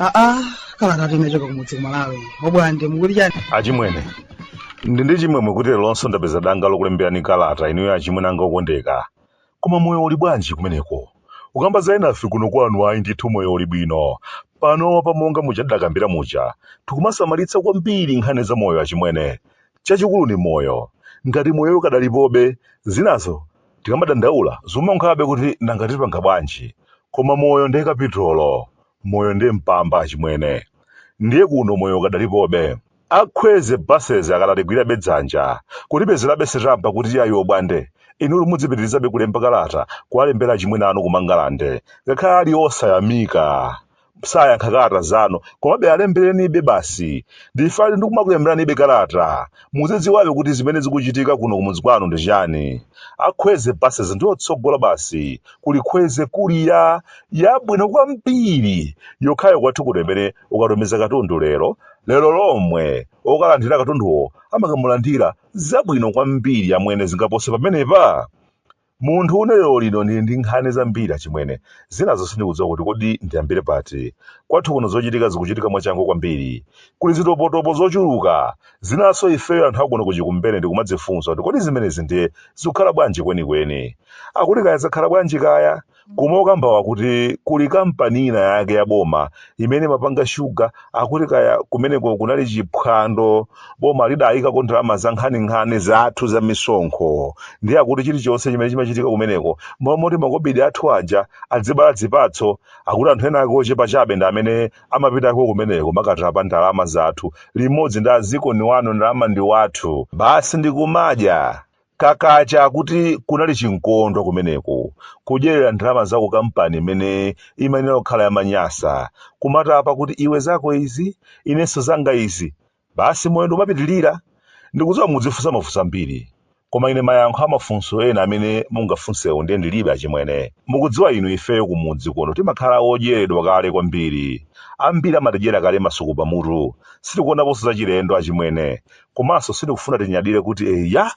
aa kalatatu imachoka kumudzi kumalawi obwande mukuti chani achimwene ndi ndi chimwemwe kuti leronso ndapeza danga lokulemberani kalata inuyo achimwene anga okondeka Koma moyo uli bwanji kumeneko? Kukamba za enafe kuno kwanu ayi ndithu moyo uli bwino. Panopa monga muja tidakambira muja, tikumasamalitsa kwambiri nkhani za moyo achimwene. Chachikulu ndi moyo. Ngati moyowo ukadalipobe, zinazo tikamadandaula zikumaonkhabe kuti nanga tipanga bwanji. Koma moyo ndiye kapitolo. Moyo ndiye mpamba achimwene. Ndiye kuno moyo ukadalipobe. A Kwezy buses akadatigwirabe dzanja kutipezerabe sitampa kuti yayi obwande inuyo mudzipitilizabe kulemba kalata kuwalembera achimwene anu kumangalande ngakhale ali osayamika sayankha kalata zanu komabe alemberenibe basi ndifali ndikumakulemberanibe kalata muzidziwabe kuti zimene zikuchitika kuno kumudzi kwanu ndi chani a kwezy buses ndi otsogola basi kuli kwezy courier yabwino kwambiri yokhayo kwathu kuno imene ukatumiza katundu lero lero lomwe okalandira katunduwo amakamulandira zabwino kwambiri amwene zingapose pamenepa munthu une lero lino ndili ndi nkhani zambiri achimwene zinazo sindikudziwa kuti kodi ndiyambire pati kwathu kuno zochitika zikuchitika mwachangu kwambiri kuli zitopotopo zochuluka zinanso ifeyo anthu akuno kuchikumbene ndikumadzifunsa kuti kodi zimenezi ndiye zikukhala bwanji kwenikweni akuti kaya zakhala bwanji kaya Koma okambawa akuti kuli kampani ina yake ya boma imene imapanga shuga akuti kaya kumeneko kunali chiphwando boma lidayikako ndalama za nkhaninkhani zathu za misonkho ndiye akuti chilichonse chimene chimachitika kumeneko mmalo moti makobidi athu aja adzibala zipatso akuti anthu ena ake ochepa chabe ndi amene amapitako kumeneko kumakatapa ndalama zathu limodzi ndi azikoni wanu ndalama ndi wathu basi ndikumadya kakacha akuti kunali chinkondo kumeneko kudyerera ndalama za kukampani imene imayenera kukhala yamanyasa kumatapa kuti iwe zako izi inenso zanga izi basi moyo ndikumapitirira ndikudziwa mudzifunsa mafunso ambiri koma ine mayankho amafunso ena amene mungafunsewo ndiye ndilibe achimwene mukudziwa inu ifeyo kumudzi kuno timakhala odyeredwa kale kwambiri ambiri amatidyera kale masuku pamutu sitikuonaponso zachilendo achimwene komanso sindikufuna tinyadire kuti eya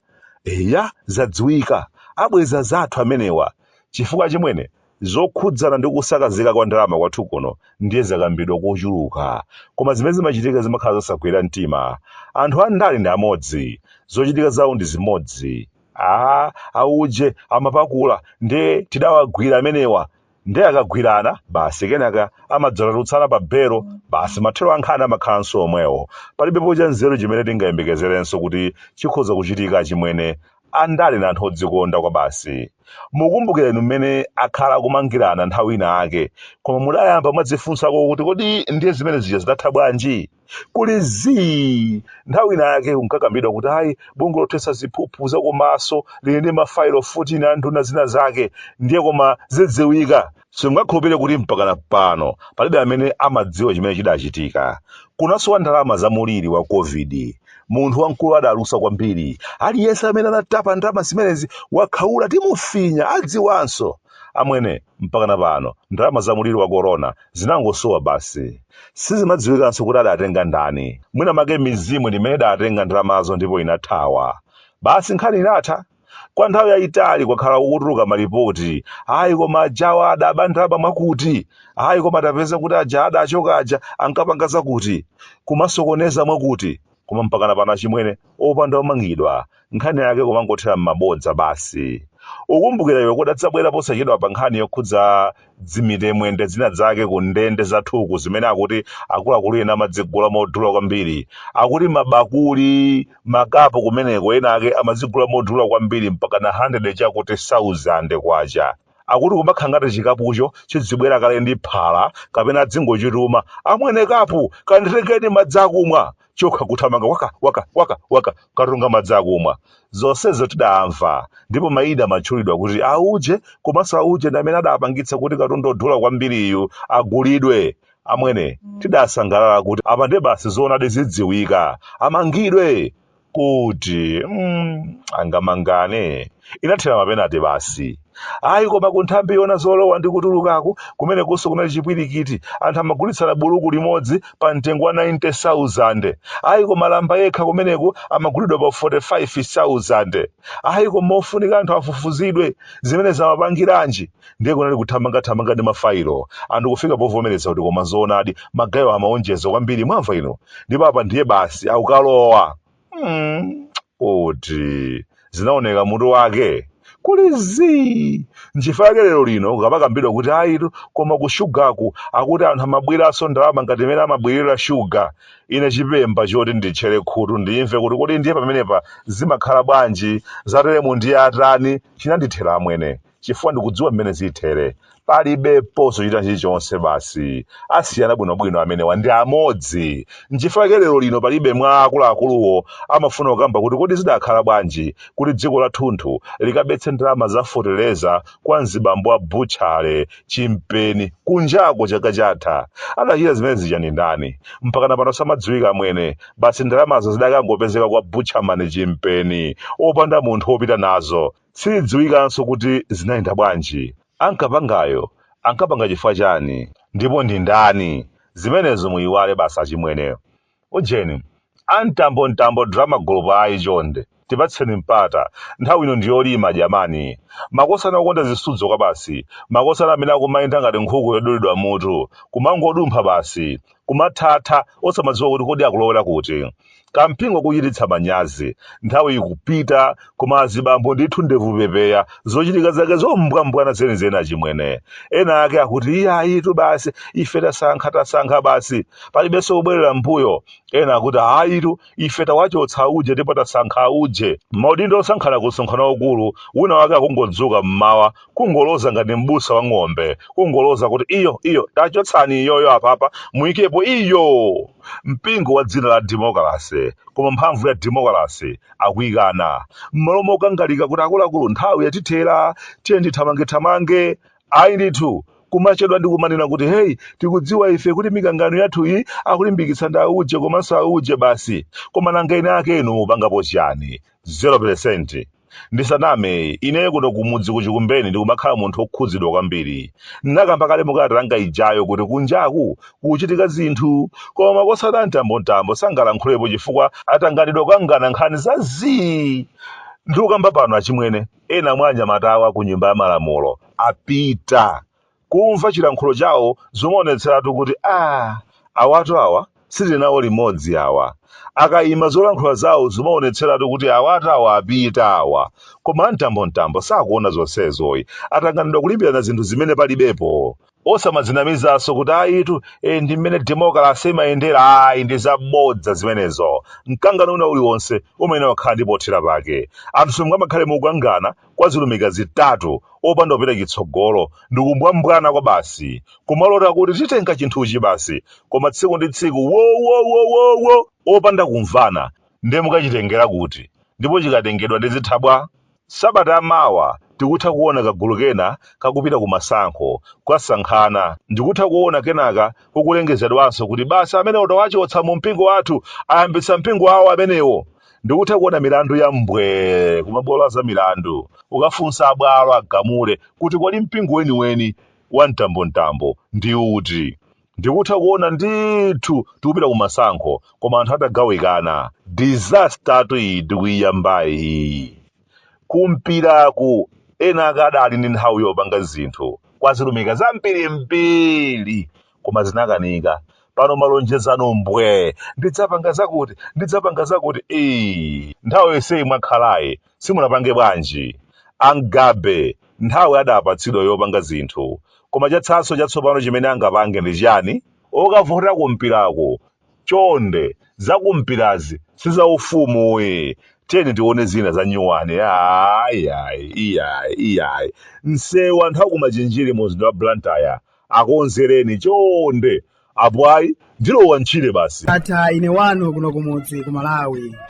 eya zadziwika abweza zathu amenewa chifukwa achimwene zokhudzana ndi kusakazika kwa ndalama kwathu kuno ndiye zakambidwa kochuluka koma zimene zimachitika zimakhala zosagwira mtima anthu andale ndi amodzi zochitika zawo ndi zimodzi a auje amapakula ndiye tidawagwira amenewa ndiye akagwirana basi kenaka amadzatulutsana pa belo basi mathero a nkhani amakhalanso omwewo palibepo cha nzeru chimene tingayembekezerenso kuti chikhoza kuchitika achimwene andale ndi anthu odzikonda kwa basi mukumbukira inu mmene akhala akumangirana nthawi ina ake koma mudayamba mwadzifunsako kuti kodi ndiye zimene zija zidatha bwanji kuli zii nthawi ina yake kunkakambidwa kuti ayi bungwe lothetsa ziphuphu zakumasoli lili ndi mafailo 14 a nduna zina zake ndiye koma zidziwika simungakhulupirire kuti mpakana pano palibe amene amadziwa chimene chidachitika kunasowa ndalama za muliri wa covid munthu wamkulu adalusa kwambiri aliyense amene anatapa ndalama zimenezi wakhaula timufinya adziwanso amwene mpakana pano ndalama za muliri wa korona zinangosowa basi sizimadziwikanso kuti adatenga ndani mwinamwake mizimu ndi imene idatenga ndalamazo ndipo inathawa basi nkhani inatha kwa nthawi yayitali kwakhala kukutuluka malipoti ayi koma ajawa adaba ndalama mwakuti ayi koma tapeza kuti aja adachoka aja ankapanga zakuti kumasokoneza mwakuti koma mpakana pano achimwene opanda omangidwa nkhani yake kumangothera m'mabodza basi ukumbukira iwe kudadzabwera posachedwapa nkhani yokhudza dzimitemwende zina zake ku ndende zathuku zimene akuti akuluakulu ena amadzigula modula kwambiri akuti mabakuli makapu kumeneko ena ake amadzigula modula kwambiri mpakana 100 chakuti 1000 kwacha akuti kumakhala ngati chikapucho chidzibwera kale ndi phala kapena adzingochituma amwene kapu kanditengeni madzi akumwa chokha nkuthamanga waka waka waka waka kukatunga madzi akumwa zonsezo tidamva ndipo maina amatchulidwa kuti auje komanso auje ndi amene adapangitsa kuti katundu odula kwambiriyu agulidwe amwene tidasangalala kuti apa ndiye basi zoonadi zidziwika amangidwe kuti mm, angamangane inathera m'mapenate basi ayi koma kunthambi yoona zolowa ndi kutulukaku kumenekunso kunali chipwirikiti anthu amagulitsana buluku limodzi pa mtengo wa 90000 ayi koma lamba yekha kumeneku amagulidwa pa 45000 ayi koma ofunika anthu afufuzidwe zimenezi amapangiranji ndiye kunali kuthamangathamanga ndi mafailo anthu kufika povomereza kuti koma zoonadi magayewa amaonjeza kwambiri mwamva inu ndipo apa ndiye basi akukalowa mm. kuti zinaoneka mutu wake kuli zii nchifukwa yake lero lino kukamakambidwa kuti ayitu koma ku shugaku akuti anthu amaberanso ndalama ngati mmene amabera shuga ine chilimba choti nditchere khutu ndimve kuti kodi ndiye pamenepa zimakhala bwanji zateremu ndiye atani chinandithera amwene chifukwa ndikudziwa mmene zithere. Palibeponso china chilichonse basi. Asiyana bwinobwino amenewa ndi amodzi. Nchifukwa chake lero lino palibe mwa akuluakuluwo amafuna kukamba kuti kodi zidakhala bwanji kuti dziko lathunthu likabetse ndalama za fotereza kwa mzibambo wa butchale chimpeni kunjako chaka chatha. Adachita zimene zija ndi ndani? Mpakana pano samadziwika amwene. Basi ndalamazo zidakangopezeka kwa butchaman chimpeni opanda munthu wopita nazo. Sizidziwikanso kuti zinayenda bwanji. Ankapangayo ankapanga chifukwa chani? Ndipo ndi ndani? Zimenezo muyiwale basi achimwene. Ujeni, a Mtambomtambo Drama Group ayi chonde, tipatseni mpata, nthawi ino ndi yolima jamani. Makosana okonda zisudzo kwabasi, makosana amene akumayenda ngati nkhuku yodulidwa mutu, kumangodumpha basi. kumaphapha osamadziwa kuti kodi akulowera kuti kampingo kuchititsa manyazi nthawi ikupita koma azibambo ndithu ndevu pepeya zochitika zake zombwambwana zenizeni achimwene ena ake akuti iye ayitu basi ife tasankha tasankha basi palibenso kubwerera mbuyo ena akuti ayitu ife tawachotsa auje ndipo tasankha auje maudindo osankhana ku msonkhano waukulu wina wake akungodzuka mmawa kungoloza ngati m'busa wa ng'ombe kungoloza kuti iyo iyo tachotsani iyoyo apapa muyikepo iyo mpingo wa dzina la demokalase koma mphamvu ya demokalase akuyikana m'malo mokangalika kuti akuluakulu nthawi yatithera tiye ndithamangethamange ayi ndithu kumachedwa ndi kumanena kuti heyi tikudziwa ife kuti mikangano yathu iyi akulimbikitsa ndi auje komanso auje basi koma nanga eni akenu mupangapo chiyani 0 Ndisaname, ineyo kuno kumudzi ku Chikumbeni ndikumakhala munthu wokhudzidwa kwambiri. Ndinakamba kale mu kalata yanga ijayo kuti kunjaku kukuchitika zinthu, koma makosana a Mtambomtambo sangalankhulepo chifukwa atanganidwa kukangana nkhani za zii! Ndikukamba pano achimwene, ena mwa anyamatawa ku Nyumba ya Malamulo apita kumva chilankhulo chawo zumaonetseratu kuti aah awatu awa sitili nawo limodzi awa. Akaima zolankhula zawo zumaonetseratu kuti awatu awa apita awa. Koma a Mtambomtambo sakuona zonsezoyi. Atanganidwa kulimbirana zinthu zimene palibepo. Osamadzinamizanso kuti ayitu ee ndi mmene demokalase imayendera ayi ndi za bodza zimenezo. Mkangano wina uliwonse umayenera kukhala ndi pothera pake. Anthu sangamakhale mukukangana kwa zilumika zitatu opanda kupita chitsogolo ndi kumbwambwana kwa basi kumalota kuti titenga chinthuchi basi koma tsiku ndi tsiku wowowowowo opanda kumvana ndiye mukachitengera kuti ndipo chikatengedwa ndi zithabwa sabata amawa tikutha kuona kagulu kena kakupita ku masankho kwasankhana ndikutha kuona kenaka kukulengezedwanso kuti basi amene tawachotsa mu mpingo wathu ayambitsa mpingo wawo amenewo ndikutha kuona milandu ya mbwee kumabwalo a za milandu kukafunsa abwalo agamule kuti kodi mpingo weniweni wa mtambontambo ndi uti ndikutha kuona ndithu tikupita ku masankho koma anthu atagawikana disaster tu iyi tikuyiyambayi iyi kumpiraku ena akadali ndi nthawi yopanga zinthu kodzitumikira zambirimbiri koma zinakanika pano malonjezano mbwee ndidzapanga zakuti ndidzapanga zakuti ee nthawi yonseyi mwakhalayi simunapange bwanji ena nthawi adapatsidwa yopanga zinthu koma chatsalanso chatsopano chimene angapange ndi chiyani okavota kumpirako chonde zakumpirazi sizaufumu ayi tiyeni tione zina zanyuwani ayi ayi iyayi iyayi msewu anthu akumachinjiri mu mzinda wa blantyre akonzereni chonde apo ayi ndilowa mtchire basi. Bata ine wanu kuno kumudzi ku Malawi.